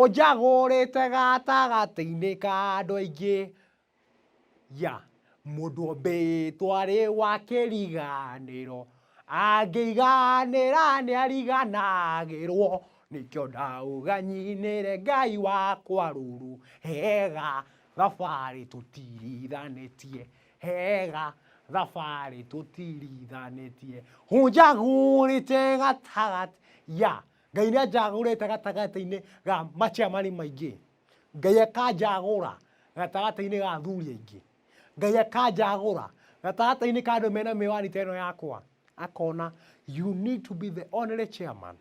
Ũnjagũrĩte gatagatĩ-inĩ ka andũ aingĩ, ya, mũndũ ũmbĩĩtwo arĩ wa kĩriganĩro, angĩiganĩra nĩariganagĩrwo, nĩkĩo ndauga nyinĩre Ngai wakwa rũrũ, hega thabarĩ tũtirithanĩtie, hega thabarĩ tũtirithanĩtie, ũnjagũrĩte gatagatĩ, ya, Ngai nĩ anjagũrĩte gatagatĩ-inĩ ga maciamani maingĩ. Ngai akanjagũra gatagatĩ-inĩ ga athuri aingĩ. Ngai akanjagũra gatagatĩ-inĩ ka andũ mena mĩwani ta ĩno yakwa. Akona you need to be the only chairman,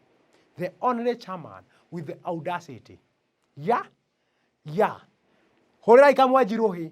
the only chairman with the audacity. Ya, ya, hũrĩrai kamwanjirũ hĩ.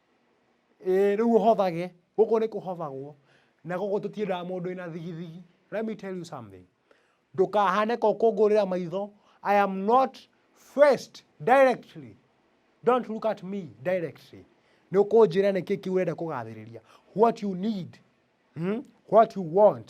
Ĩĩ rĩu ũhothage, gũkũ nĩ kũhothagwo, na gũkũ tũtiendaga mũndũ wĩna thigithigi. Let me tell you something, ndũkahane ka ũkũngũrĩra maitho, I am not faced directly, don't look at me directly. Nĩ ũkũnjĩra nĩkĩĩ kĩu ũrenda kũgathĩrĩria, what you need, what you want.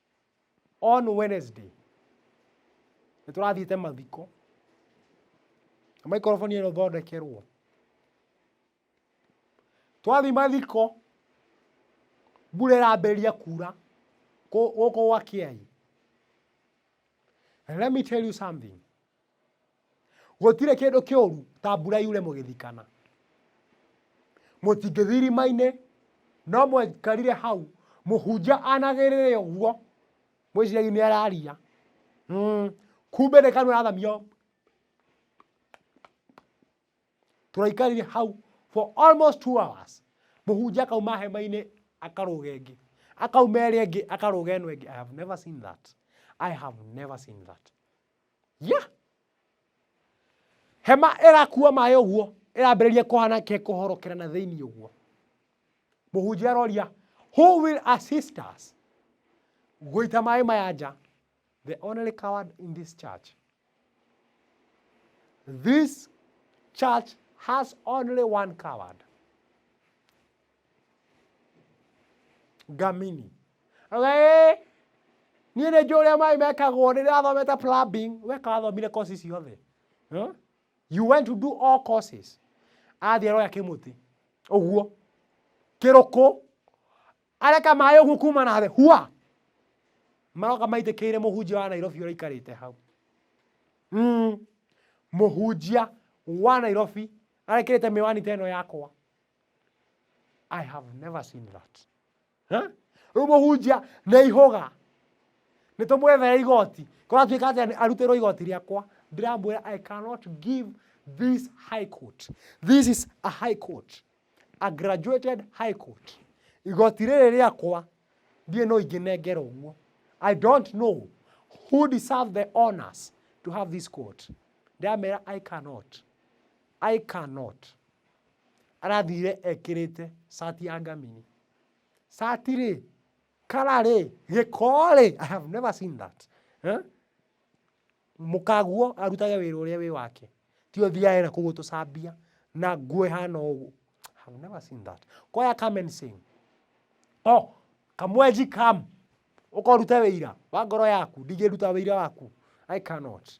on Wednesday nĩ tũrathiĩte mathiko na maikoroboni ĩno thondekerwo twathiĩ mathiko mbura ĩrambĩrĩria kuura kũ- gũkũ gwa kĩai And let me tell you something gũtirĩ kĩndũ kĩũru ta mbura yure mũgĩthikana mũtingĩthi irima-inĩ no mwekarire hau mũhunjia anagĩrĩre ũguo mwĩciragia nĩ araria mm. kumbe nĩ kanua arathamio tũraikarire hau for almost two hours mũhunjia akauma hema-inĩ akarũga ĩngĩ akauma ĩrĩa ĩngĩ akarũga ĩno ĩngĩ i have never seen that i have never seen that ya hema ĩrakua maĩ ũguo ĩrambĩrĩria kũhana ke kũhorokera na thĩinĩ ũguo mũhunjia aroria who will assist us gũita maĩ maya nja the only coward in this church this church has only one coward ngamini Oiga, "Eh, niĩ nĩ njũĩ ũrĩa maĩ mekagwo rĩrĩa wathomete plumbing weka wathomire course ciothe Huh? you went to do all courses athiĩ aroya kĩmũtĩ ũguo kĩrũkũ areka maĩ ũguo kuma na thĩ hua maroka maitĩkĩire mũhunjia wa nairobi ũrĩa aikarĩte hau Mm. mũhunjia wa nairobi arekĩrĩte mĩwani ta ĩno yakwa I have never seen that. Huh? Rĩu mũhunjia nĩ ihũga nĩ tũmwethere igoti kũratuĩka atĩ arutĩrwo igoti rĩakwa ndĩramwĩra I cannot give this high court. This is a high court. A graduated high court. Igoti rĩrĩ rĩakwa ndiĩ no ingĩnengera ũguo. I don't know who deserve the honors to have this court. Ndĩramera I cannot. I cannot. Arathire ekĩrĩte cati ya ngamini. Cati rĩ, kara rĩ, gĩko rĩ, I have never seen that. Eh? Mũkaguo arutage wĩra ũrĩa wĩ wake. Ti ũthiae na kũguo tũcambia na nguo ĩhana ũguo. I have never seen that. Koya come and sing. Oh, kamwenji come. Ũkorute wĩira wa ngoro yaku. Ndingĩruta wĩira waku. I cannot.